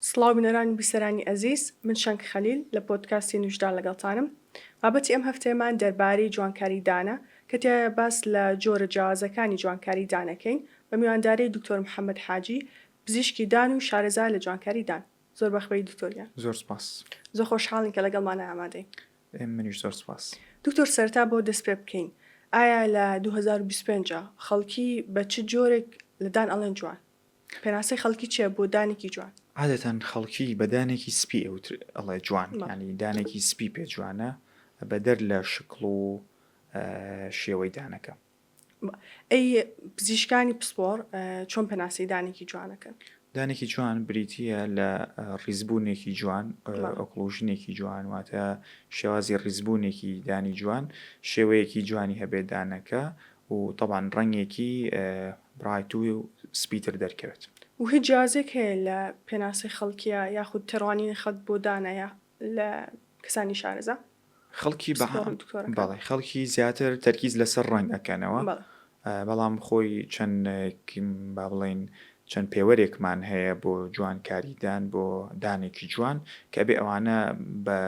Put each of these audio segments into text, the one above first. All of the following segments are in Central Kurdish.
سڵاو بینەران و بیسەرانی ئەزیز، من شەنگ خەلیل لە پۆدکاستی نوژدان لەگەڵتانم. بابەتی ئەم هەفتەیەمان دەربارەی جوانکاری دانە کە تیایا باس لە جۆرە جیاوازەکانی جوانکاری دان ئەکەین بە میوانداری دکتۆر محەمەد حاجی پزیشکی دان و شارەزا لە جوانکاری دان. زۆر بەخبەی دکتۆر گیان. زۆر سپاس. زۆر خۆشحاڵین کە لەگەڵمانە ئامادەی. منیش زۆر سپاس. دکتۆر سەرەتا بۆ دەست پێ بکەین ئایا لە دوو هەزار و بیست و پێنج خەڵکی بە چ جۆرێک لە دان ئەڵێن جوان؟ پێناسەی خەڵکی چیە بۆ دانێکی جوان؟ عادەتەن خەڵکی بە دانێکی سپی ئەوتر ئەڵێ جوان یانی دانێکی سپی پێ جوانە بەدەر لە شکڵ و شێوەی دانەکە. ئەی پزیشکانی پسپۆڕ چۆن پێناسەی دانێکی جوانەکەن؟ دانێکی جوان بریتییە لە ڕیزبوونێکی جوان ئۆکلوژنێکی جوان واتە شێوازی ڕیزبوونێکی دانی جوان شێوەیەکی جوانی هەبێت دانەکە و تەبعەن ڕەنگێکی برایت و سپیتر دەرکەوێت. و هیچ جیازیەک هەیە لە پێناسەی خەڵکیە یاخود تێڕوانینی خەڵک بۆ دانە یە لە کەسانی شارەزا؟ خەڵکی بە سپۆڕن دکتۆرەکە. بەڵێ خەڵکی زیاتر تەرکیز لەسەر ڕەنگ ئەکەنەوە بەڵێ. بەڵام خۆی چەند با بڵێین چەند پێوەرێکمان هەیە بۆ جوانکاری دان بۆ دانێکی جوان کە ئەبێ ئەوانە بە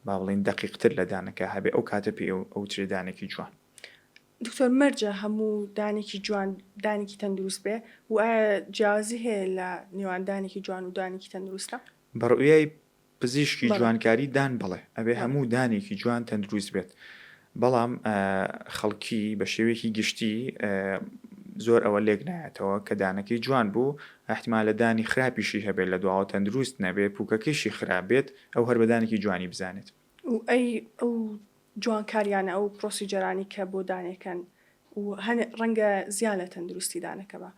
با بڵێین دەقیقتر لە دانەکە هەبێ ئەو کاتە پێ ئەوترێ دانێکی جوان. دکتۆر مەرجە هەموو دانێکی جوان دانێکی تەندروست بێ و ئایا جیاوازی هەیە لە نێوان دانێکی جوان و دانێکی تەندروستە؟ بە ڕوئیای پزیشکی بەڵێ. جوانکاری دان بەڵێ ئەبێ بەڵێ. هەموو دانێکی جوان تەندروست بێت بەڵام خەڵکی بە شێوەیەکی گشتی زۆر ئەوە لێک نایەتەوە کە دانەکەی جوان بوو ئەحتمالە دانی خراپیشی هەبێت لە دواوە تەندروست نەبێت پوکەکەیشی خراپ بێت ئەو هەر بە دانێکی جوانی بزانێت. و ئەی ئەو جوانکاریانە ئەو پرۆسیجەرانی کە بۆ دانێکەن و هەن ڕەنگە زیان لە تەندروستی دانەکە با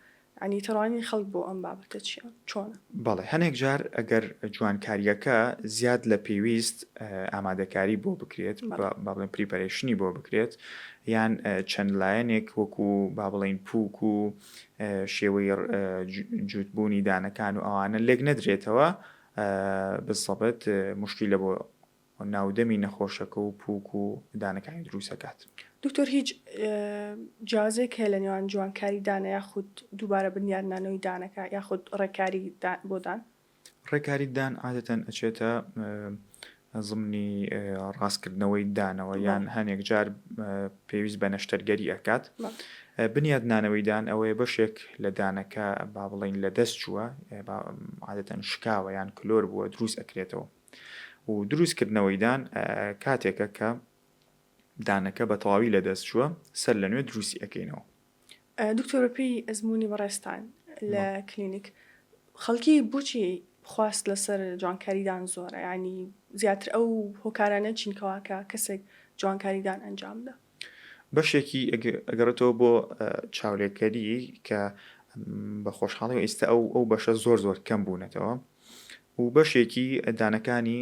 یانی تێڕوانینی خەڵک بۆ ئەم بابەتە چیە چۆنە؟ بەڵێ هەنێک جار ئەگەر جوانکاریەکە زیاد لە پێویست ئامادەکاری بۆ بکرێت با بڵێن پریپەرەیشنی بۆ بکرێت یان چەند لایەنێک وەکو با بڵێن پوک و شێوەی جووتبوونی دانەکان و ئەوانە لێک نەدرێتەوە بسەبت موشکیلە بۆ ناودەمی نەخۆشەکە و پوک و دانەکانی دروست ئەکات. دکتۆر هیچ جیازێک هەیە لە نێوان جوانکاری دانە یاخود دووبارە بنیادنانەوەی دانەکە یاخود ڕێکاری بۆ دان؟ ڕێکاری دان عادەتەن ئەچێتە زمنی ڕاستکردنەوەی دانەوە یان هەنێک جار پێویست بە نەشتەرگەری ئەکات. بنیات نانەوەی دان ئەوەیە بەشێک لە دانەکە با بڵێین لە دەست چووە عادەتەن شکاوە یان کلۆر بووە دروست ئەکرێتەوە و دروست کردنەوەی دان کاتێکە کە دانەکە بە تەواوی لە دەست چووە سەر لە نوێ دروستی ئەکەینەوە. دکتۆر بەپێی ئەزموونی بەڕێزتان لە کلینیک خەڵکی بۆچی خواست لەسەر جوانکاریدان زۆرە ینی زیاتر ئەو هۆکارانە چینکەواکە کەسێک جوانکاریدان ئەنجامدا بەشێکی ئەگەڕێتەوە بۆ چاولێکەری کە بە خۆشحاڵی و ئیستا ئەو ئەو بەشە زۆر زۆر کەم بوونەتەوە و بەشێکی دانەکانی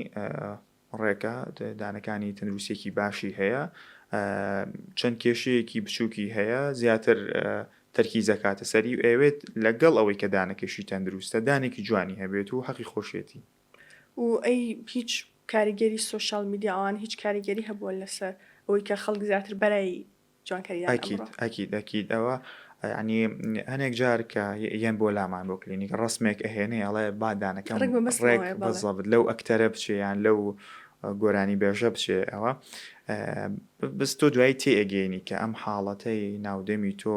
ڕێکە دانەکانی تەندروستیەکی باشی هەیە چەند کێشەیەکی بچووکی هەیە زیاتر تەرکی زەکاتە سەری و ئەوێت لەگەڵ ئەوەی کە دانەکەشی تەندروستە دانێکی جوانی هەبێت و حەقی خۆشێتی و ئەی هیچ کاریگەری سۆشال میدیا ئەوان هیچ کاریگەری هەبووە لەسەر ئەوەی کە خەڵک زیاتر بەرای جوانکاریدان ئەکید ئەمڕۆ. ئەکید ئەکید ئەوە یەعنی هەنێک جار کە یەن بۆ لامان بۆ کلینیک ڕەسمێک ئەهێنێ ئەڵێ با دانەکەم ڕێک بە مەستمەوەیە، ڕێک بەڵێ. بەزەبت لەو ئەکتەرە بچێ یان لەو گۆرانی بێژە بچێ ئەوە بەس تۆ دوایی تێ ئەگەینی کە ئەم حاڵەتەی ناو دەمی تۆ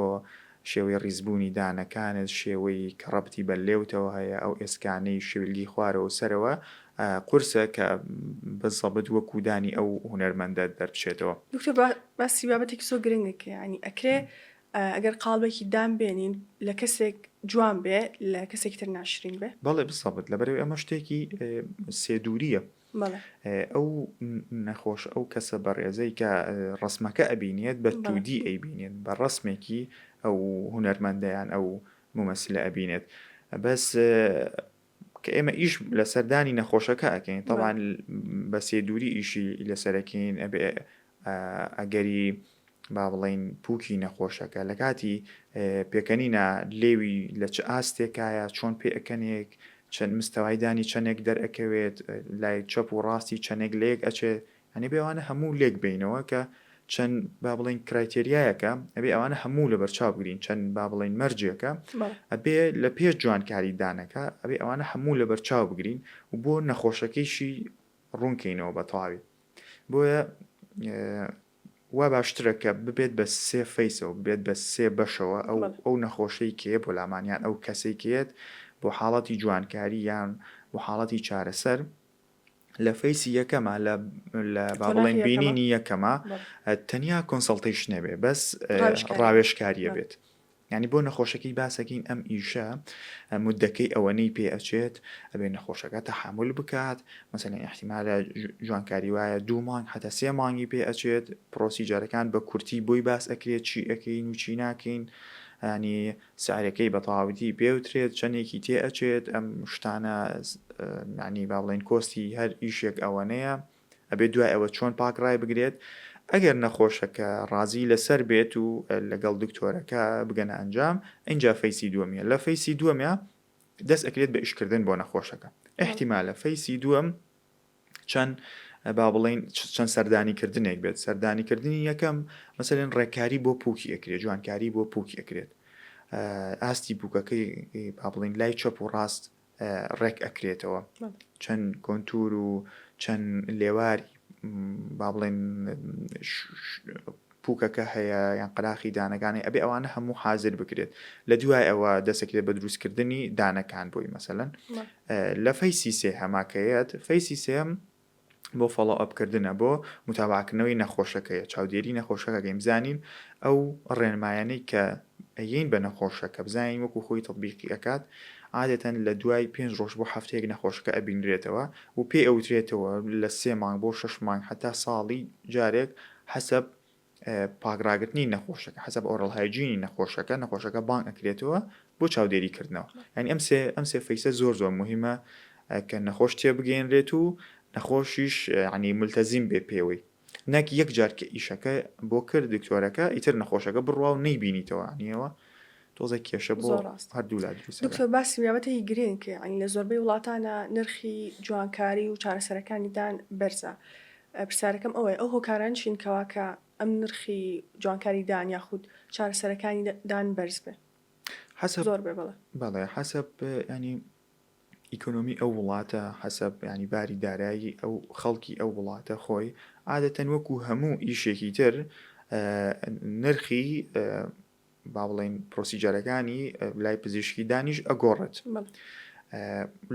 شێوەی ڕیزبوونی دانەکانت، شێوەی کە ڕەبتی بە لێوتەوە هەیە، ئەو ئێسکانەی شیولگی خوارەوە و سەرەوە قورسە کە بە زەبت وەکوو دانی ئەو هونەرمەندە دەربچێتەوە. دکتۆر باسی بابەتێکی زۆر گرنگت کرد یانی ئەکرێ ئەگەر قاڵبێکی دان بێنین لە کەسێک جوان بێ لە کەسێکی تر ناشرین بێ؟ بەڵێ بزەبت لەبەرئەوەی ئەمە شتێکی سێ دوورییە ئەو نەخۆش ئەو کەسە بەڕێزەی کە ڕسمەکە ئەبینێت بە تودی ئەیبینێت بە ڕسمێکی ئەو هونەرمەندەیان ئەو ممەسلە ئەبینێت بەس کە ئێمە ئیش لە سەردانی نەخۆشەکە ئەکەین تەوان بە سێ دووری ئیشی لەسەرەکەین ئەبێ ئەگەری با بڵێین پووکی نەخۆشەکە لە کاتی پێکەنینا لێوی لە چ ئاستێکایە چۆن پێکەنێک چەند مستەوای دانی چەندێک دەرەکەوێت لای چەپ و ڕاستی چەندێک لەیەک ئەچێت ئەنی بێوانە هەموو لێک بینەوە کە چەند با بڵین کرایتریایەکە ئەبێ ئەوانە هەموو لە بەرچاو بگرین چەند با بڵین مەرجێکە ئەبێ لە پێ جوانکاری دانەکە ئەبێ ئەوانە هەموو لە بەرچاو بگرین و بۆ نەخۆشەکەیشی ڕوونکەینەوە بە تەواوی بۆیە وا باشترە کە ببێت بە سێ فەیسەوە بێت بە سێ بەشەوە ئەو ئەو نەخۆشەی کێ بۆ لامانیان ئەو کەسەی کێت بۆ حاڵەتی جوانکاری یان بۆ حاڵەتی چارەسەر لە فەیسی یەکەمە لە بابڵێن بینینی یەکەمە تەنیا کۆنسەڵتیش نەبێ بەس ڕاوێشکاریە بێت. یانی بۆ نەخۆشەکەی باسەکەین ئەم ئیشە مدەکەی ئەوەنەی پێ ئەچێت ئەبێ نەخۆشەکە تەحامول بکات مەسەلەن ئیحتیمالە جوانکاری وایە دوو مانگ حتا سێ مانگی پێ ئەچێت پرۆسیجەرەکان بە کورتی بۆی باس ئەکرێت چی ئەکەین و چی ناکەین ینی سعرەکەی بە تەواوەتی پێوترێت چەندێکی تێ ئەچێت ئەم شتانە معنی با بڵێن کۆستی هەر ئیشێک ئەوەنەیە ئەبێت دوای ئەوە چۆن پاک ڕای بگرێت ئەگەر نەخۆشەکە ڕازی لەسەر بێت و لەگەڵ دکتۆرەکە بگەنە ئەنجام ئینجا فەیسی دووەمیە لە فەیسی دووەمیا دەست ئەکرێت بە ئیشکردن بۆ نەخۆشەکە ئیحتیمالە فەیسی دووەم چەند با بڵین چەند سەردانی کردنێک بێت سەردانی کردنی یەکەم مەسەن ڕێکاری بۆ پوکی ئەکرێت جوانکاری بۆ پوکی ئەکرێت ئاستی پوکەکەی پابلین لای چەپ و ڕاست ڕێک ئەکرێتەوە چەند کۆنتور و چەند لێواری با بڵێن پوکەکە هەیە یان قەراخی دانەکانی ئەبێ ئەوانە هەموو حاضر بکرێت لە دوای ئەوە دەسەکرێت بە دروستکردنی دانەکان بۆی مەسەن لە فەیسی سێ هەماکەیەت فەیسی سێم بۆ فۆڵۆ ئەپ کردنە بۆ موتابەعە کردنەوەی نەخۆشەکەیە چاودێری نەخۆشەکە کەین بزانین ئەو ڕێنمایانەی کە ئەیەین بە نەخۆشەکە بزانین وەکو خۆی تەتبیقی ئەکات عادەتەن لە دوای پێنج ڕۆژ بۆ هەفتەیەک نەخۆشەکە ئەبینرێتەوە و پێی ئەوترێتەوە لە سێ مانگ بۆ شەش مانگ حەتا ساڵی جارێک حەسەب پاک ڕاگرتنی نەخۆشەکە حەسەب ئۆرڵ هایجینی نەخۆشەکە نەخۆشەکە بانگ ئەکرێتەوە بۆ چاودێری کردنەوە یعنی ئەم سێ ئەم سێ فەیسە زۆر زۆر مهمە کە نەخۆش تێ بگەێنرێت و نەخۆشیش عنی ملتەزیم بێ پێوەی نەک یەک جار کە ئیشەکە بۆ کرد دکتۆرەکە ئیتر نەخۆشەکە بڕوا و نەیبینیتەوە نیەوە تۆزێ کێشە بۆ هەردوولا دروست دەبێت. دکتۆر باسی بابەتێکی گرنگ کرد، یانی لە زۆربەی وڵاتانا نرخی جوانکاری و چارەسەرەکانی دان بەرزە، پرسیارەکەم ئەوەیە ئەو هۆکارانە چین کەوا کە ئەم نرخی جوانکاری دان یاخود چارەسەرەکانی دان بەرز بێ؟ حەسەب زۆر بێ بەڵێ. بەڵێ حەسەب ینی ئیکۆنۆمی ئەو وڵاتە حەسەب ینی باری دارایی ئەو خەڵکی ئەو وڵاتە خۆی عادەتەن وەکو هەموو ئیشێکی تر نرخی با بڵێین پرۆسیجەرەکانی لای پزیشکی دانیش ئەگۆڕێت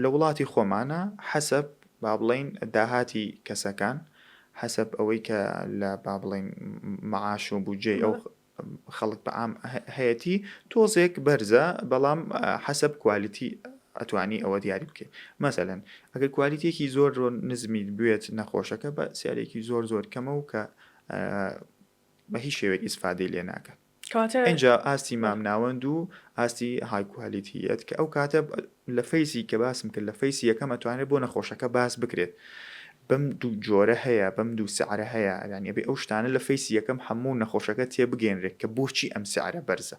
لە وڵاتی خۆمانە حەسەب با بڵێین داهاتی کەسەکان حەسەب ئەوەی کە لە با بڵێین معاش و بودجێ ئەو خەڵک بە عام هەیەتی تۆزێک بەرزە بەڵام حەسەب کوالیتی ئەتوانی ئەوە دیاری بکەیت مەسەەن ئەگەر کوالیتێکی زۆر نزمیت بێت نەخۆشەکە بە سیارێکی زۆر زۆر کەمە و کە بە هیچ شێوەیەک ئیسفادەی لێ ناکەن کەواتە ئینجا ئاستی مامناوەند و ئاستی هایکوالیتیەت کە ئەو کاتە لە فەیسی کە باسم کرد لە فەیسی یەکەم ئەتوانێت بۆ نەخۆشەکە باس بکرێت بەم دوو جۆرە هەیە بەم دوو سعرە هەیە یانە بێ ئەو شتانە لە فەیسی یەکەم هەموو نەخۆشەکە تێبگەێنرێت کە بۆچی ئەم سعرە بەرزە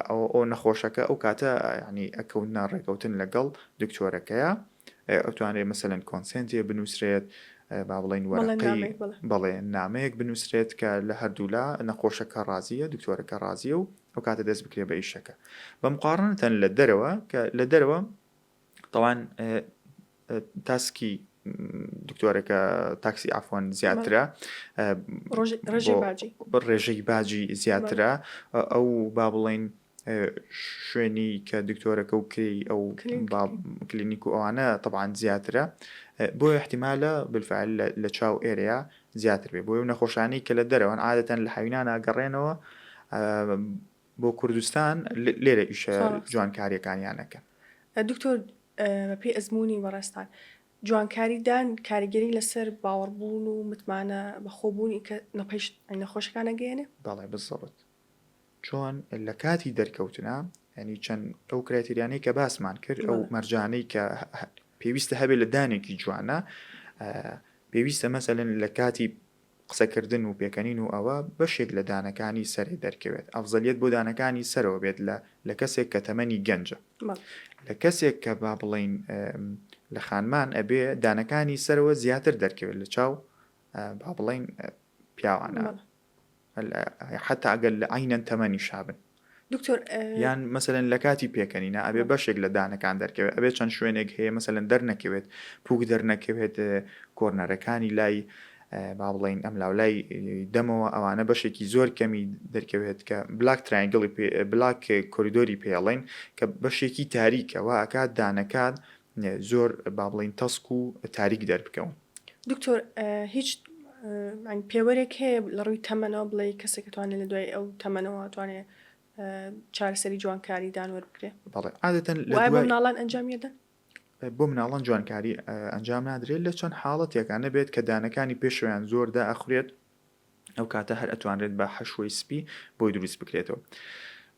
ئەو نەخۆشەکە ئەو کاتە ینی ئەکەوننا ڕێکەوتن لەگەڵ دکتۆرەکەیە ئەتوانرێ مەسەن کۆنسنتێ بنووسرێت با بڵین وەرەقی بەڵێ نامەیەک بنووسرێت کە لە هەردوولا نەخۆشەکە ڕازیە دکتۆرەکە ڕازیە و ئەو کاتە دەست بکرێ بە ئیشەکە بە مقاڕنتەن لە دەرەوە کە لە دەرەوە تاوان تاسکی دکتۆرەکە تاکسی ئافۆن زیاترە ڕێژەی باجی زیاترە ئەو با بڵین شوێنی کە دکتۆرەکە و کری ئەو کلینیک و ئەوانە تەبان زیاترە بۆ احتیمالە بالفعل لە چاو ئێرەیە زیاتر بێ بۆ نەخۆشانی کە لە دەرەوەن عادەتەن لە حوینانە گەڕێنەوە بۆ کوردستان لێرە ئیشە جوانکاریەکانیان ئەکەن. دکتۆر بەپێی ئەزموونی بەڕێزتان جوانکاری دان کاریگەری لەسەر باوەڕبوون و متمانە بەخۆبوونی کە نەپەیشت نەخۆشەکان ئەگەیەنێ؟ بەڵێ بزەبت چۆن لە کاتی دەرکەوتنا ینی چەند ئەو کراتریانەی کە باسمان کرد ئەو مەرجانەی کە پێویستە هەبێت لە دانێکی جوانە پێویستە مەسەلن لە کاتی قسەکردن و پێکەنین و ئەوە بەشێک لە دانەکانی سەرێ دەرکەوێت ئەفزەلیەت بۆ دانەکانی سەرەوە بێت لە لە کەسێک کە تەمەنی گەنجە لە کەسێک کە با بڵێین لە خانمان ئەبێ دانەکانی سەرەوە زیاتر دەرکەوێت لە چاو با بڵێین پیاوانە حتا ئەگەر لە عینەن تەمەنی شابن دکتۆر یان مەسەلەن لەکاتی پێکەنینا ئەبێ بەشێک لە دانەکان دەرکەوێت ئەبێ چەند شوێنێک هەیە مەسەلەن دەرنەکەوێت پوک دەرنەکەوێت کۆرنەرەکانی لای با بڵین ئەم لاولای دەمەوە ئەوانە بەشێکی زۆر کەمی دەرکەوێت کە بلاک ترایگڵی بلاک کۆریدۆری پێڵین کە بەشێکی تاریکەوە ئەکات دانەکات زۆر با بڵین تەسک و تاریک دەربکەون دکتۆر هیچ پێوەرێک هەیە لە ڕووی تەمەنەوە بڵێ کەسێک توانێت لە دوای ئەو تەمەنەوە توانێت چارەسەری جوانکاری دانوەر بکرێت بەڵێ عادەتەن لە دوای مناڵان ئەنجامیدەن بۆ مناڵان جوانکاری ئەنجام نادرێت لە چەند حاڵەتێکانە بێت کە دانەکانی پێشویان زۆر دائەخورێت ئەو کاتە هەر ئەتوانرێت بە حەشوەی سپی بۆی دروست بکرێتەوە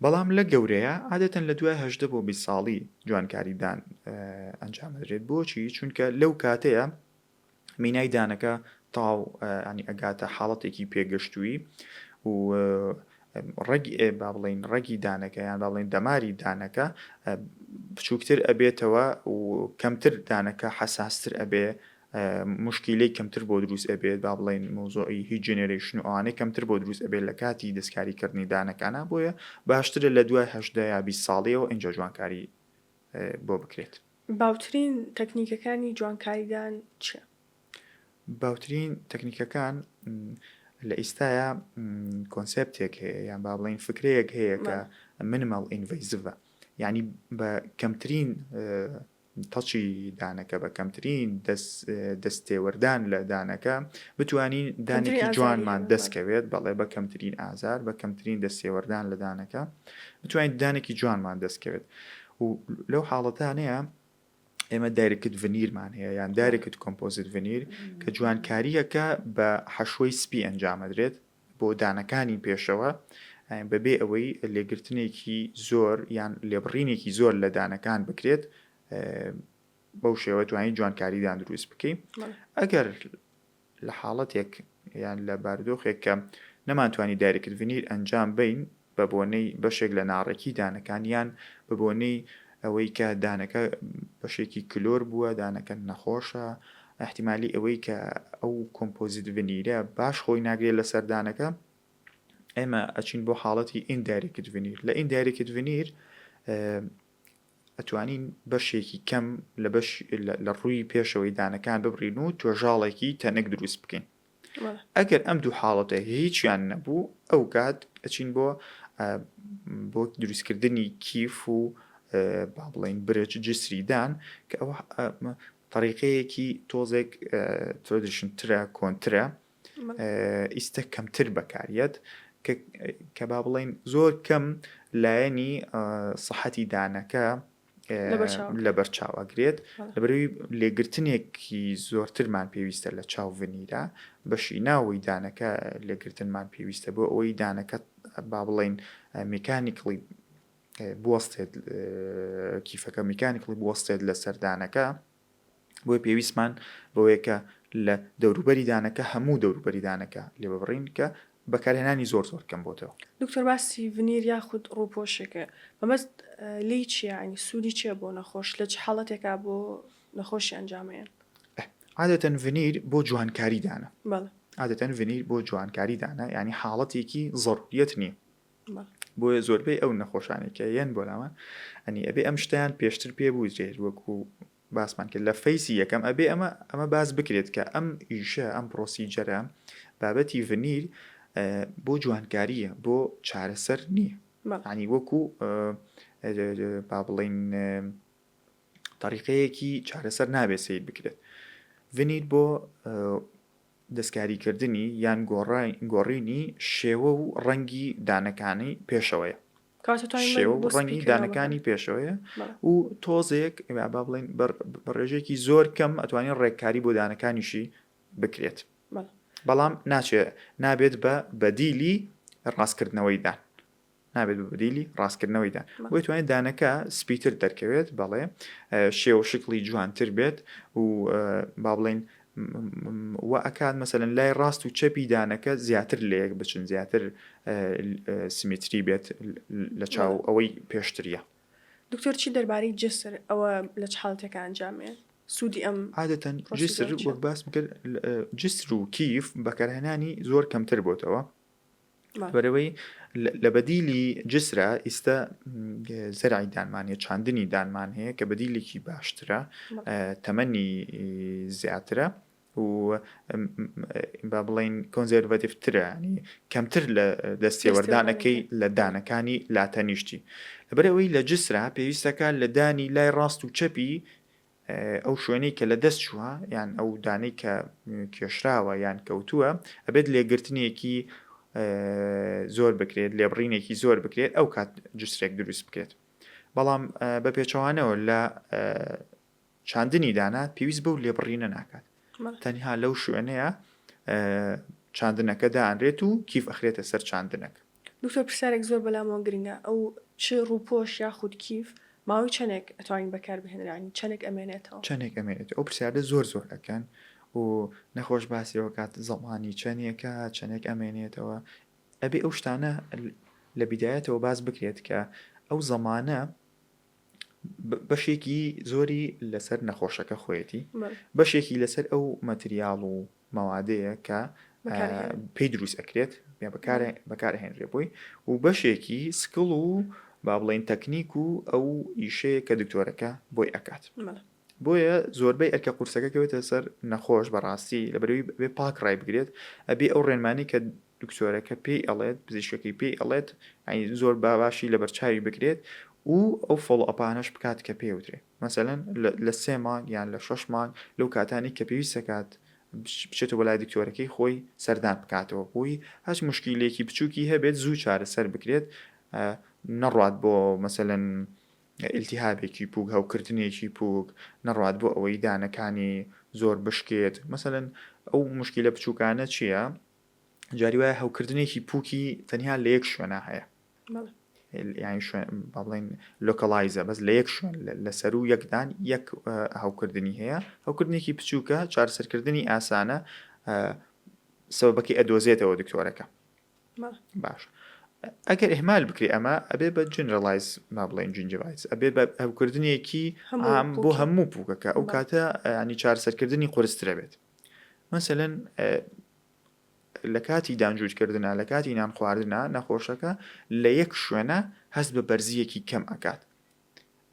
بەڵام لە گەورەیە عادەتەن لە دوای هەژدە بۆ بی ساڵی جوانکاریدان ئەنجامدرێت بۆچی چونکە لەو کاتەیە مینای دانەکە تاو ینی ئەگاتە حاڵەتێکی پێگەشتووی و ڕەگ ئێ با بڵین ڕەگی دانەکە یان با بڵین دەماری دانەکە بچووکتر ئەبێتەوە و کەمتر دانەکە حەساستر ئەبێ موشکیلەی کەمتر بۆ دروست ئەبێت با بڵێین مەوزوعی هیت جێنێرەیشن و ئەوانەی کەمتر بۆ دروست ئەبێت لە کاتی دەستکاری کردنی دانەکانا بۆیە باشترە لە دوای هەژدە یا بیست ساڵیەوە ئینجا جوانکاری بۆ بکرێت. باوترین تەکنیکەکانی جوانکاریدان چیە؟ باوترین تەکنیکەکان لە ئیستایا کۆنسپتێک هەیە یان با بڵین فکرەیەک هەیە کە منمەڵ ئینڤیزڤە یعنی بە کەمترین تەچی دانەکە بە کەمترین دەست تێوەردان لە دانەکە بتوانین دانێکی جوانمان دەست کەوێت بەڵێ بە کەمترین ئازار بە کەمترین دەست تێوەردان لە دانەکە بتوانین دانێکی جوانمان دەست کەوێت و لەو حاڵەتانەیە ئێمە دایرکت ڤنیرمان هەیە یان دارێکت کۆمپۆزیت ڤنیر کە جوانکاریەکە بە حەشوەی سپی ئەنجامەدرێت بۆ دانەکانی پێشەوە بەبێ ئەوەی لێگرتنێکی زۆر یان لێبڕینێکی زۆر لە دانەکان بکرێت بەو شێوە توانین جوانکاریدان دروست بکەین ئەگەر لە حاڵەتێک یان لە باردۆخێک کە نەمانتوانی دایرکت ڤنیر ئەنجام بین بە بۆنەی بەشێک لە ناڕێکی دانەکان یان بە بۆنەی ئەوەی کە دانەکە بەشێکی کلۆر بووە، دانەکە نەخۆشە، ئیحتیمالی ئەوەی کە ئەو کۆمپۆزیت ڤنیرە باش خۆی ناگرێت لەسەر دانەکە، ئێمە ئەچین بۆ حاڵەتی ئیندایرێکت ڤنیر، لە ئیندایرێکت ڤنیر ئەتوانین بەشێکی کەم لە بەش لە ڕووی پێشەوەی دانەکان ببڕین و توێژاڵێکی تەنک دروست بکەین. ئەگەر ئەم دوو حاڵەتە هیچیان نەبوو ئەو کات ئەچین بۆ بۆ دروستکردنی کیف و با بڵین برج جسریدان کە ئەوە طریقەیەکی تۆزێک ترۆدیشن ترە کۆنترە ئیستا کەمتر بەکاریت کە با بڵین زۆر کەم لایەنی سەحەتی دانەکە لەبەر چاو ئەگرێت لەبەروی لێگرتنێکی زۆرترمان پێویستە لە چاو ڤنیرا بەشی ناوەی دانەکە لێگرتنمان پێویستە بۆ ئەوەی دانەکە با بڵین میکانیکڵی بوەستێت کیفەکە میکانیکڵی بوەستێت لە سەردانەکە بۆیە پێویستمان بەوەیە کە لە دەوروبەری دانەکە هەموو دەوروبەری دانەکە لێببڕین کە بەکارهێنانی زۆر زۆر کەم بۆتەوە. دکتۆر باسی ڤنیر یاخود ڕووپۆشێک کرد مەبەست لێی چیە یانی سوودی چیە بۆ نەخۆش لە چ حاڵەتێکا بۆ نەخۆشی ئەنجامەیەن؟ عادەتەن ڤنیر بۆ جوانکاری دانە بەڵێ. عادەتەن ڤنیر بۆ جوانکاری دانە یانی حاڵەتێکی زەڕووریەت نیە بۆیە زۆربەی ئەو نەخۆشانەی کە یەن بۆ لامان ئەنی ئەبێ ئەم شتیان پێشتر پێ بووزرێت وەکو باسمان کرد لە فەیسی یەکەم ئەبێ ئەمە ئەمە باس بکرێت کە ئەم ئیشە ئەم پرۆسیجەرە بابەتی ڤنیر بۆ جوانکاریە بۆ چارەسەر نییە ینی وەکو با بڵین طریقەیەکی چارەسەر نابێت سیر بکرێت ڤنیر بۆ دەستکاریکردنی یان گۆڕینی شێوە و ڕەنگی دانەکانی پێشەوەیە. شێوە و ڕەنگی دانەکانی پێشەوەیە و تۆزێک با بڵێین بە ڕێژەیەکی زۆر کەم ئەتوانین ڕێککاری بۆ دانەکانیشی بکرێت. بەڵام ناچێت نابێت بە بەدیلی ڕاستکردنەوەی دان. نابێت بە بەدیلی ڕاستکردنەوەی دان. بۆیە توانێت دانەکە سپیتر دەرکەوێت، بەڵێ شێوە و شکڵی جوانتر بێت و با بڵێین وا ئەکات مەسەلەن لای ڕاست و چەپی دانەکە زیاتر لە یەک بچن زیاتر سمیتری بێت لە چاو ئەوەی پێشتریە. دکتۆر چی دەربارەی جسر ئەوە لە چ حاڵەتێکە ئەنجامێ سوودی ئەم عادەتەن جسر پرۆسیجەرە چییە؟ وەک باسم کرد جسر و کیف بەکارهێنانی زۆر کەمتر بۆتەوە لەبەرئەوەی لە بەدیلی جسرە ئیستە زەرعی دانمان هەیە چاندنی دانمان هەیە کە بەدیلێکی باشترە تەمەنی زیاترە و با بڵین کۆنزەرڤەتیفترانی کەمتر لە دەستێوەردانەکەی لە دانەکانی لاتەنیشتی لەبەرەوەی لە جسرا پێویستەکە لە دانی لای ڕاست و چەپی ئەو شوێنەی کە لە دەست چووە یان ئەو دانەی کە کێشراوە یان کەوتووە ئەبێت لێگرتنێکی زۆر بکرێت لێبڕینێکی زۆر بکرێت ئەو کات جسرێک دروست بکرێت بەڵام بە پێچەوانەوە لە چاندنی دانا پێویست بەو لێبڕینە ناکات تەنها لەو شوێنەیە چاندنەکە دانرێت و کیف ئەخرێتە سەر چاندنەکە دکتۆر پرسیارێک زۆر بەلامەوە گرنگە ئەو چ ڕووپۆش یاخود کیف ماوەی چەنێک ئەتوانین بەکار بهێنرانی چەنێک ئەمێنێتەوە؟ چەنێک ئەمێنێتەوە ئەو پرسیاردە زۆر زۆر ئەکەن و نەخۆش باسی ئەوە کات زەمانی چەنێکە چەنێک ئەمێنێتەوە ئەبێ ئەو شتانە لە بیدایەتەوە باس بکرێت کە ئەو زەمانە بەشێکی زۆری لەسەر نەخۆشەکە خۆیەتی بەشێکی لەسەر ئەو مەتریال و مەوادەیە کە پێی دروست ئەکرێت بەکار ئەهێنرێ بۆی و بەشێکی سکڵ و با بڵێین تەکنیک و ئەو ئیشەیە کە دکتۆرەکە بۆی ئەکات بۆیە زۆربەی ئەرکە قورسەکە کەوێتە سەر نەخۆش بەڕاستی لە بەرەوەی بێ پاک ڕای بگرێت ئەبێ ئەو ڕێنمانی کە دکتۆرەکە پێی ئەڵێت پزیشکەکەی پێی ئەڵێت یانی زۆر با باشی لەبەرچاوی بگرێت و ئەو فۆڵۆ ئەپانەش بکات کە پێی وترێ مەسەلەن لە سێ مانگ یان لە شەش مانگ لەو کاتانەی کە پێویست دەکات بچێتەوە بۆ لای دکتۆرەکەی خۆی سەردان بکاتەوە بۆی هەچ مشکیلێکی بچووکی هەبێت زوو چارەسەر بکرێت نەڕات بۆ مەسەلەن ئیلتیهابێکی پووک هەوکردنێکی پووک نەڕات بۆ ئەوەی دانەکانی زۆر بشکێت مەسەلەن ئەو مشکیلە بچووکانە چییە؟ جاری وایە هەوکردنێکی پووکی تەنیا لە یەک شوێنە هەیە یانی شوێن با بڵێن لۆکەڵایزە بەس لە یەک شوێن لە سەر و یەکدان یەک هەوکردنی هەیە هەوکردنێکی بچووکە چارسەرکردنی ئاسانە سەبەکەی ئەدۆزێتەوە دکتۆرەکە باش ئەگەر ئهمال بکرێ ئەمە ئەبێ بە جنرالایز ما بڵێن جنجڤایس ئەبێ بە ئەوکردنێکی ئام بۆ هەموو پووکەکە ئەو کاتە ینی چارسەرکردنی قرسترە بێت مەسەلەن لە کاتی دانجووت کردنا لە کاتی نان خواردنا نەخۆشەکە لە یەک شوێنە هەست بە بەرزیەکی کەم ئەکات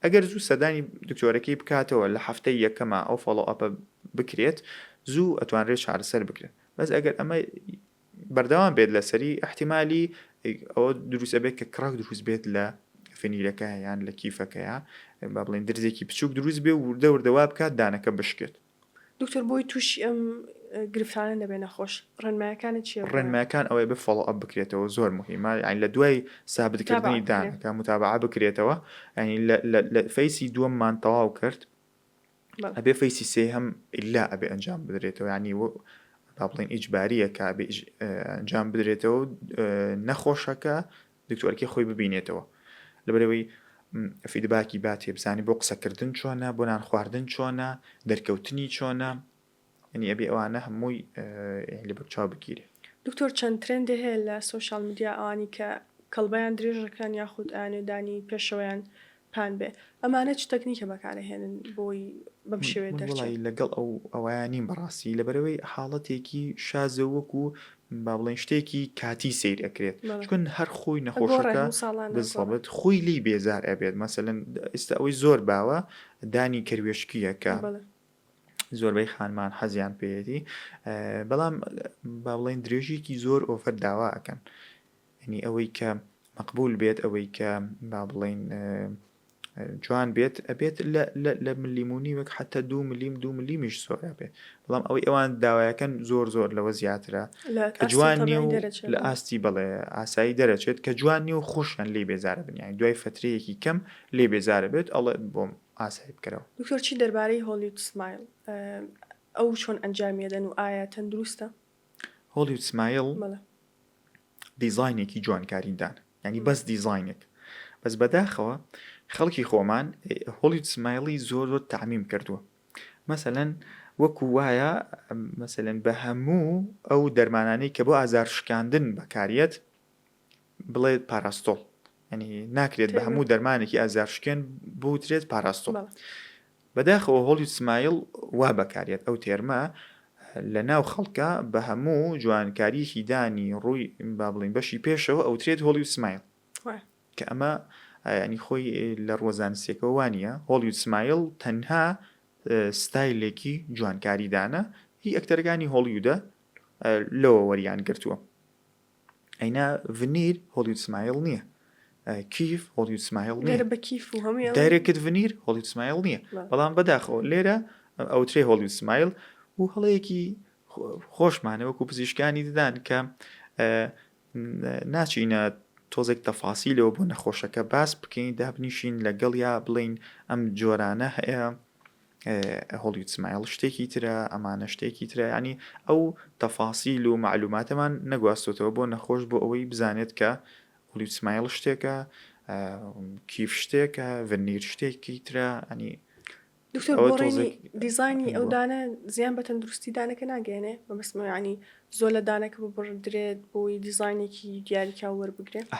ئەگەر زوو سەدانی دکتۆرەکەی بکاتەوە لە هەفتەی یەکەمە ئەو فۆڵۆ ئەپە بکرێت زوو ئەتوانرێت چارەسەر بکرێت بەس ئەگەر ئەمە بەردەوام بێت لەسەری احتیممالی ئەوە دروستە بێت کە کڕک دروست بێت لە فنیرەکە یان لە کیفەکەیە با بڵین درزێکی بچوک دروست بێ وردە وردەوا بکات دانەکە بشکێت دکتۆر بۆی توشی ئەم گرفتانە دەبێ نەخۆش ڕێنمایەکانت چیە بۆیان؟ ڕێنمایەکان ئەوەیە بێ فۆڵۆ ئەپ بکرێتەوە زۆر موهیمە یانی لە دوای سابت متابعە کردنی بکرێ دانەکە متابعە بکرێتەوە یانی لە لە لە فەیسی دووەممان تەواو کرد بەڵێ ئەبێ فەیسی سێهەم ئیللا ئەبێ ئەنجام بدرێتەوە یانی وە با بڵێین ئیجبارییە کە ئەبێ ئیج ئەنجام بدرێتەوە و نەخۆشەکە دکتۆرەکەی خۆی ببینێتەوە لەبەرئەوەی فیدباکی با تێبزانی بۆ قسەکردن چۆنە بۆ نان خواردن چۆنە دەرکەوتنی چۆنە ئەنی ئەبێ ئەوانە هەمووی لە بەکچاو بگیرێ دکتۆر چەند ترندێ هەیە لە سۆشیال میدیا ئەوانی کە کەڵبەیان درێژەکەن یاخود ئەیانوێ دانی پێشەوەیان پان بێ ئەمانە چ تەکنیکە بەکارەهێنن بۆی بەم شێوەیە دەرچێ؟ من وەڵایی لەگەڵ ئەو ئەوەیا نیم بەڕاستی لەبەرەوەی حاڵەتێکی شازە وەکو با بڵێین شتێکی کاتی سەیر ئەکرێت چون هەر خۆی نەخۆشەکە بزەبت خۆی لی بێزار ئەبێت مەسەلەن ئێستا ئەوەی زۆر باوە دانی کەروێشکیەکە زۆربەی خانمان حەزیان پێیەتی بەڵام با بڵێن درێژێکی زۆر ئۆفەر داوا ئەکەن یەنی ئەوەی کە مەقبول بێت ئەوەی کە با بڵێین جوان بێت ئەبێت لە ملیمونی وەک حتا دو ملیم دو ملیمیش سۆرا بێت بەڵام ئەوەی ئەوان داوایەکەن زۆر زۆر لەوە زیاترە کە جوان لە ئاستی بڵێ ئاسایی دەرەچێت کە جوان نیە و خۆشیان لێ بێزارە بنیانی دوای فترەیەکی کەم لێ بێزارە بێت ئەڵێ بۆم ئاسایی بکەرەوە دکتۆرچی دەربارەی هۆلیود سمایل ئەو چۆن ئەنجامیدەن و ئایا تەندروستە؟ هۆلیود سمایل بەڵێ. دیزاینێکی جوانکارین دان یعنی بەس دیزاینێک بەس بەداخەوە خەڵکی خۆمان هۆلیود سمایلی زۆر زۆر تعمیم کردووە مەسەلەن وەکو وایە مەسەلەن بە هەموو ئەو دەرمانانەی کە بۆ ئازار شکاندن بەکاریت بڵێت پاراستۆڵ ینی ناکرێت بە هەموو دەرمانێکی ئازارشکێن بوترێت پاراستۆڵ بەداخەوە هۆڵی سمایل وا بەکارێت ئەو تێرمە لە ناو خەڵکە بە هەموو جوانکاریەکی دانی ڕووی با بڵین بەشی پێشەوە ئەوترێت هۆڵی و سمایل کە ئەمە ینی خۆی لە ڕۆزانسیەکەەوە وانە هۆڵی و سمایل تەنها ستایلێکی جوانکاریدانە هی ئەکتەرەکانی هۆڵیودە لەوە وەریان گرتووە ئەینا ڤنیر هۆڵیود سمایل نییە کیف هۆڵیود سمایل نییە دەرە بە کیف و هەموویان دایرێکت ڤنیر هۆڵیود سمایل نییە لا. بەڵام بەداخەوە لێرە ئەوترێ هۆڵیود سمایل و هەڵەیەکی خۆ- خۆشمانە وەکو پزیشکانی ددان کە ئە، ن- ناچینە تۆزێک تەفاسیلەوە بۆ نەخۆشەکە باس بکەین دابنیشین لەگەڵیا بڵێین ئەم جۆرانە هەیە هۆڵیود سمایڵ شتێکی ترە، ئەمانە شتێکی ترە، یەعنی ئەو تەفاسیل و مەعلوماتەمان نەگواستۆتەوە بۆ نەخۆش بۆ ئەوەی بزانێت کە هۆڵیود سمایڵ شتێکە، کیف شتێکە، ڤەرنیر شتێکی ترە، ئەنی دکتۆر ئەوە بۆڕێنی تۆزێک- دیزانی ئەو بۆ. دانە زیان بە تەندروستی دانەکە ناگەێنێ بەمەسمەوەیانی زۆر لە دانەکە ببڕدرێت بۆی دیزانێکی دیاریکراو وەربگرێت ئا،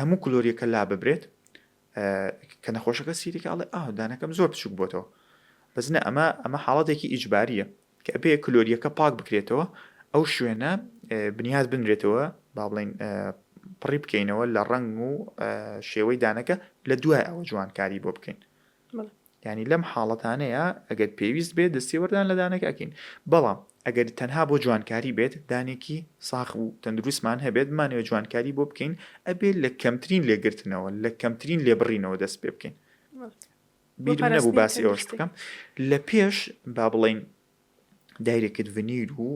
هەموو کلۆریەکە لاببرێت کە نەخۆشەکە سیریکە ئەڵێ ئاه دانەکەم زۆر بچوک بۆتەوە بەس نە ئەمە ئەمە حاڵەتێکی ئیجباریە کە ئەبێ کلۆریەکە پاک بکرێتەوە ئەو شوێنە بنیاد بنرێتەوە با بڵین پڕی بکەینەوە لە ڕنگ و شێوەی دانەکە لە دوای ئەوە جوانکاری بۆ بکەین یانی لەم حاڵەتانەیا ئەگەر پێویست بێت دەستێوەردان لە دانەکە ئەکەین بەڵام ئەگەر تەنها بۆ جوانکاری بێت دانێکی ساخ و تەندروستمان هەبێت بمانەوێت جوانکاری بۆ بکەین ئەبێت لە کەمترین لێگرتنەوە لە کەمترین لێبڕینەوە دەست پێ بکەین بیرم نەبوو باسی ئەوەش بکەم لە پێش با بڵین دایرێکت ڤنیر و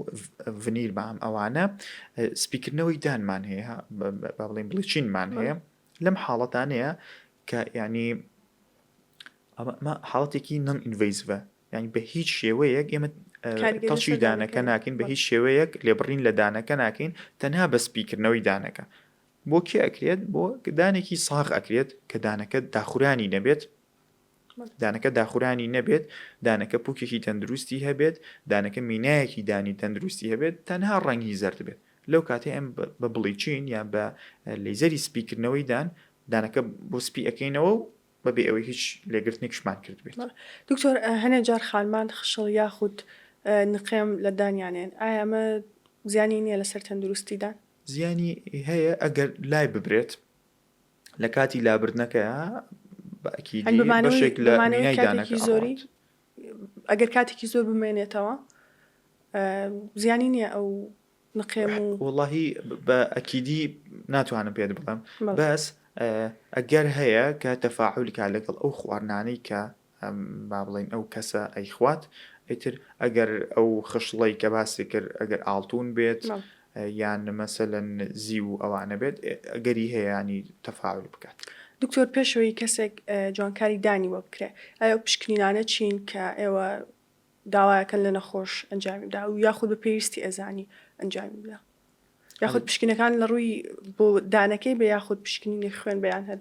ڤنیر بام ئەوانە سپیکردنەوەی دانمان هەیە بڵین بڵیچینمان هەیە لەم حاڵەتانەیە کە یعنی ئەمە حاڵەتێکی نەم ئینڤیسڤە یعنی بە هیچ شێوەیەک ئێمە تەڵشی دانەکە ناکەین بە هیچ شێوەیەک لێبڕین لە دانەکە ناکەین تەنها بە سپیکردنەوەی دانەکە بۆ کێ ئەکرێت بۆ دانێکی ساغ ئەکرێت کە دانەکە داخورانی نەبێت دانەکە داخورانی نەبێت، دانەکە پوکێکی تەندروستی هەبێت، دانەکە مینایەکی دانی تەندروستی هەبێت، تەنها ڕەنگی زەرد بێت، لەو کاتەی ئەم بە بڵیچین یان بە لەیزەری سپی کردنەوەی دان دانەکە بۆ سپی ئەکەینەوە و بە بێ ئەوەی هیچ لێگرتنێکشمان کردبێت. دکتۆر هەنێ جار خانمان خشڵ یاخود نقێم لە دانیان هەن ئایا ئەمە زیانی نیە لەسەر تەندروستی دان؟ زیانی هەیە ئەگەر لای ببرێت لە کاتی لابردنەکەیا بەشێکمانەوەی زۆری ئەگەر کاتێکی زۆر بمێنێتەوە زیانی نییە ئەو نقێم و وڵی بە ئەکیدی ناتوانم پێت بڵم بەس ئەگەر هەیە کە تەفاعولکە لەگەڵ ئەو خواردنانەی کە ئەم با بڵێین ئەو کەسە ئەیخوات ئیتر ئەگەر ئەو خشڵەی کە باسی کرد ئەگەر ئاڵتوون بێت یان مەسەلەن زیو و ئەوانە بێت ئەگەری هەیەیانی تەفاعل بکات. دکتۆر پێشەوەی کەسێک جوانکاری دانی بۆ بکرێ ئەیا ئەو پشکنینانە چین کە ئێوە داوایەکەن لە نەخۆش ئەنجامی بدا و یاخود بە پێویستی ئەزانی ئەنجامی بدا یاخود پشکنەکان لە ڕووی بۆ دانەکەی بە یاخود پشکنینی خوێن بەیان هەر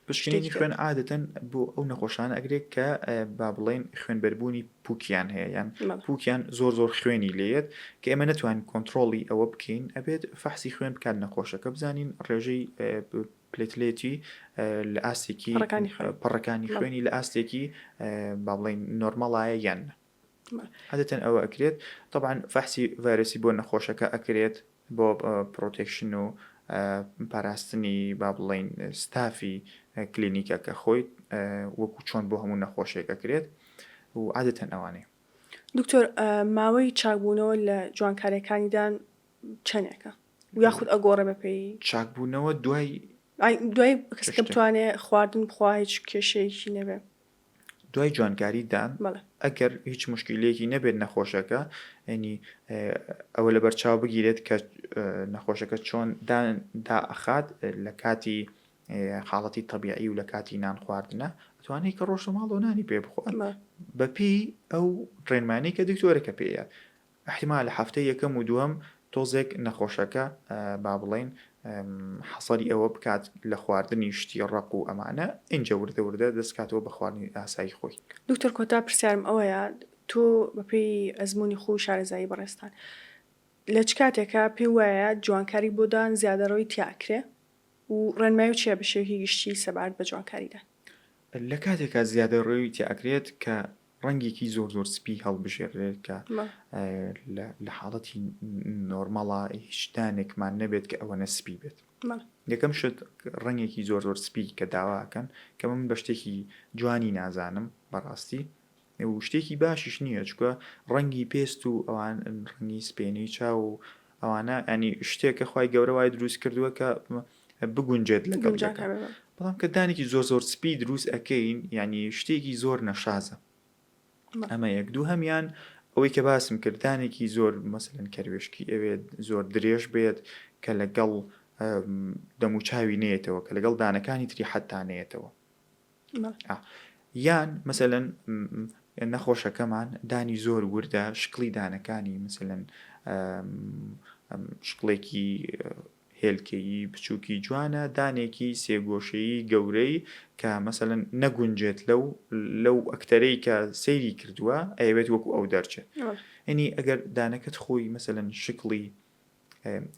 پشکنینی خوێن عادەتەن بۆ ئەو نەخۆشانە ئەگرێت کە با بڵین خوێنبەربوونی پوکیان هەیە یان پوکیان زۆر زۆر خوێنی لێت کە ئێمە نتوان کۆنتترۆڵی ئەوە بکەین ئەبێت فەحسی خوێن بکات نەخۆشەکە بزانین ڕێژەی پلێتلێتی لە ئاستێکی پەڕەکانی خوێنی لە ئاستێکی با بڵێین نۆرمەڵایە یان نە عادەتەن ئەوە ئەکرێت طبعا فەحسی ڤایرسی بۆ نەخۆشەکە ئەکرێت بۆ پرۆتێکشن و پاراستنی با بڵین ستافی کلینیکە کە خۆی وەکو چۆن بۆ هەموو نەخۆشێک ئەکرێت و عادەتەن ئەوانەیە دکتۆر ماوەی چاکبوونەوە لە جوانکارەکانیدان چەندێکە یاخود ئەگۆڕێ بە پێی. چاک بوونەوە دوای. ئای دوای کەسەکە چشتێک. بتوانێ خواردن بخوا هیچ کێشەیەکی نەبێ. دوای جوانکاری دان بەڵێ. ئەگەر هیچ موشکیلەیەکی نەبێت نەخۆشەکە یەنی ئەوە لەبەر چاو بگیرێت کە نەخۆشەکە چۆن دان دائەخات لە کاتی حاڵەتی تەبیعی و لە کاتی نان خواردنە ئەتوانێت کە ڕۆشتە ماڵەوە نانی پێ بخوات بەڵێ. بە پێی ئەو ڕێنمانیی کە دکتۆرەکە پێیە ئیحتیمالە هەفتەی یەکەم و دووەم تۆزێک نەخۆشەکە با بڵێین حەسەری ئەوە بکات لە خواردنی شتی ڕەق و ئەمانە ئینجا وردە وردە دەست کاتەوە بە خواردنی ئاسایی خۆی. دکتۆر کۆتا پرسیارم ئەوەیە تۆ بە پێی ئەزموونی خۆو شارەزایی بەڕێزتان لە چ کاتێکە پێو وایە جوانکاری بۆ دان زیادەڕۆی تیا ئەکرێ و ڕێنمایو چیە بە شێوەکی گشتی سەبارەت بە جوانکاری دان؟ لە کاتێکا زیادەڕۆی تیا ئەکرێت کە ڕەنگێکی زۆر زۆر سپی هەڵبژێرێت کە لە حاڵەتی نۆرمەڵە هیچ دانێکمان نەبێت کە ئەوەنە سپی بێت یەکەم شت ڕەنگێکی زۆر زۆر سپی کە داواکەن کە من بە شتێکی جوانی نازانم بەڕاستی و شتێکی باشیش نییە چکە ڕەنگی پێست و ئەوان ڕەنگی سپێنەی چاو و ئەوانە ئەنی شتێکە خی گەورە وای دروست کردووە کە بگونجێت لە گەنجەکە بەڵام کە دانێکی زۆر زۆر سپی دروست ئەەکەین ینی شتێکی زۆر نەشازە ئەمە یەک دوو هەمان ئەوەی کە باسم کردانێکی زۆر مەسەن کەروێشکی ئەوێت زۆر درێژ بێت کە لەگەڵ دەموچاوی نێتەوە کە لەگەڵ دانەکانی تری حتانەیەتەوە یان مەسەلەن نەخۆشەکەمان دانی زۆر وردە شکلی دانەکانی مثلەن شکڵێکی هێلکەیی بچووکی جوانە دانێکی سێگۆشەیی گەورەی کە مەسەن نەگونجێت لەو لەو ئەکتەرەی کە سەیری کردووە ئەوێت وەکو ئەو دەرچێت ئەنی ئەگەر دانەکەت خۆی مەسەن شکڵی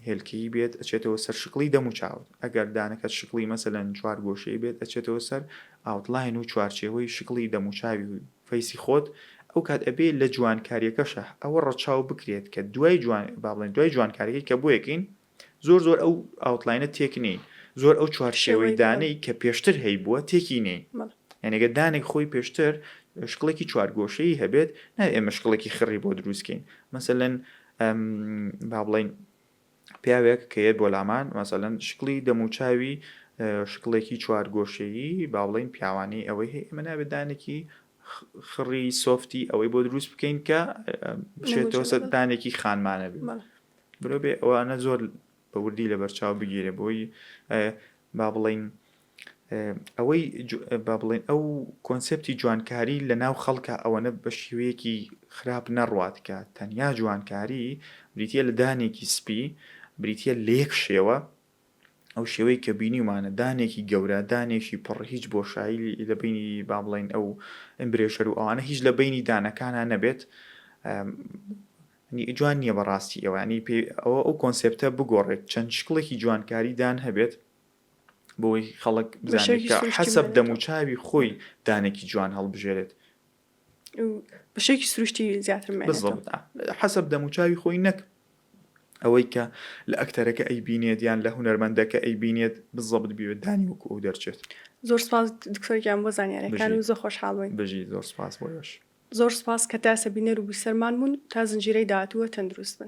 هێلکەیی بێت ئەچێتەوە سەر شکڵی دەم و چاوت ئەگەر دانەکەت شکڵی مەسەلەن چوار گۆشەی بێت ئەچێتەوە سەر ئاوتلاین و چوارچێوەی شکڵی دەم و چاوی و فەیسی خۆت ئەو کات ئەبێ لە جوانکاریەکەشە ئەوە ڕەچاو بکرێت کە دوای جوان با بڵێن دوای جوانکاریەکەی کە بۆیەکەین زۆر زۆر ئەو ئاوتلاینە تێک نین زۆر ئەو چوارشێوەی دانەی کە پێشتر هەی بووە تێکی نین یانێگە دانێک خۆی پێشتر شکڵێکی چوارگۆشەی هەبێت نای ئێمە شکڵێکی خڕی بۆ دروستکەین مەسەلەن ئەم با بڵێین پیاوێک کە یەت بۆ لامان مەسەلەن شکڵی دەموچاوی شکڵێکی چوارگۆشەیی با بڵێین پیاوانی ئەوەی هەیە ئەمە نابێت دانێکی خڕی سۆفتی ئەوەی بۆ دروست بکەین کە بچێتەوە سەدانێکی خانمانە بێت برۆ بێ ئەوانە زۆر بە وردی لە بەرچاو بگیرێ بۆی با بڵین ئەوەی با بڵێن ئەو کۆنسپتی جوانکاری لە ناو خەڵکە ئەوەنە بە شێوەیەکی خراپ نەڕاتکە تەنیا جوانکاری بریتە لە دانێکی سپی بریتە لە یەک شێوە ئەو شێوەی کە بینیمانە دانێکی گەورە دانێکی پڕ هیچ بۆشایی لە بینی با بڵێن ئەو ئەمبرێشەر و ئەوانە هیچ لە بینی دانەکانە نەبێت جوان نییە بەڕاستی ئەوانی پێ ئەوە ئەو کۆنسپتە بگۆڕێت چەند شکڵێکی جوانکاریدان هەبێت بۆی خەڵک بزانێت کە حەسەب دەموچاوی خۆی دانێکی جوان هەڵبژێرێت بەشێکی سروشتی زیاتر حەسەب دەموچاوی خۆی نەک ئەوەی کە لە ئەکتەرەکە ئەی بینێت یان لە هوەرمەندەکە ئەی بینێت بزەبت بوێت دانی وەکو ئەو دەرچێت زۆر سپاس دکتۆرگیان بۆ زانانیارەکان و زۆ خۆشحاڵی بژی زۆر سپاس بۆش زۆر سپاس کە تاسە بینەر و بیسەرمان بوون تا زنجیرەی داهاتووە تەندروست بن